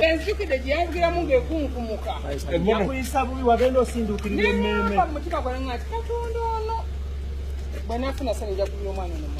enzikide gyeyavugiramu ngekunkumuka yakuyisa bubi wagenda osindukirira emmeeme mutima gwange ati katonda ono bwenafuna sani nja kubira omwana nomu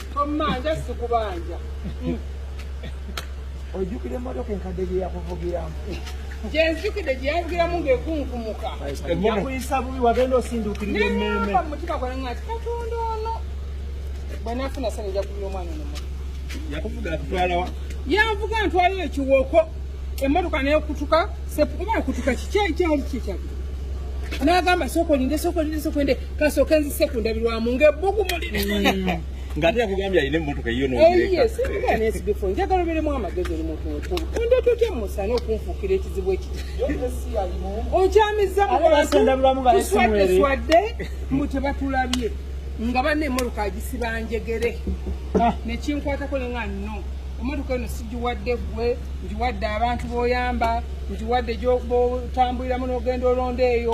Tomanja sikubanja. Ojukire motoka enkadde gye yakuvugiramu. Gye nzijukidde gye yavugiramu ng'ekunkumuka. Yakuyisa bubi wagenda osindukirira emmeeme. Naye nava mu mutima gwange nga ati Katonda ono bwe nafuna sani nja kubira omwana ono motoka. Yakuvuga atutwala wa? Yanvuga ntwala ekiwoko emmotoka nekutuka oba kutuka kiki ekyali kyekyali n'agamba sokolinde sokolinde sokolinde kasooke nzise ku ndabirwamu ng'ebbugumu liri ng'ate yakugambye alina emmotoka yiyo noesigifo njagala oberemu amagezi oli muntu mukulu onda totya musana okunfuukira ekizibu ekiti okyamizza mubantuswadde mbu tebatulabye nga banna emmotoka agisiba njegere ah. nekinkwatako ne nga no emmotoka eno sigiwadde ggwe ngiwadde abantu boyamba ngiwadde gyobotambuliramu n'ogenda olonda eyo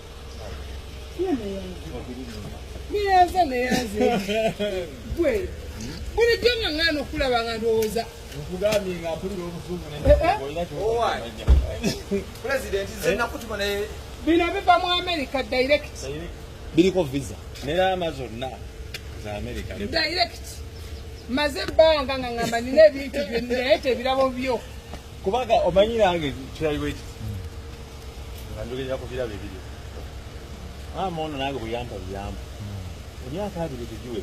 neyanza neyanze gwe bulijjo nga ngana okulaba nga ndowooza nkugambye nga mpulira obusungu pulezidenti zenakutuma naye bino biva mu america direct biriko visa neraama zonna za america direct maze ebbanga nga ngamba nina ebintu byonnaye tebirabo byo kubanga omanyi nange kirali bwe kiti nga njogerera ku birabo ebiri maama ono nange buyampa buyampa emyaka abiri tegiwe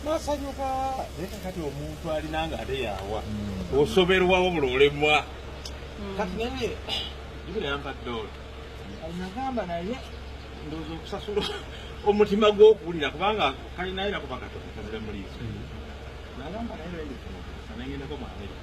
nasanyuka naye kakati omuntu alina nga ate yawa hmm. osoberwawo bula olemwa hmm. kati naye jubira yampa dola nagamba naye ndowooza okusasula omutima gw'okuwulira kubanga kalinayo nakuba katoka kazira muliiso hmm. nagamba naye lwendifuna okusa nengendako mu amerika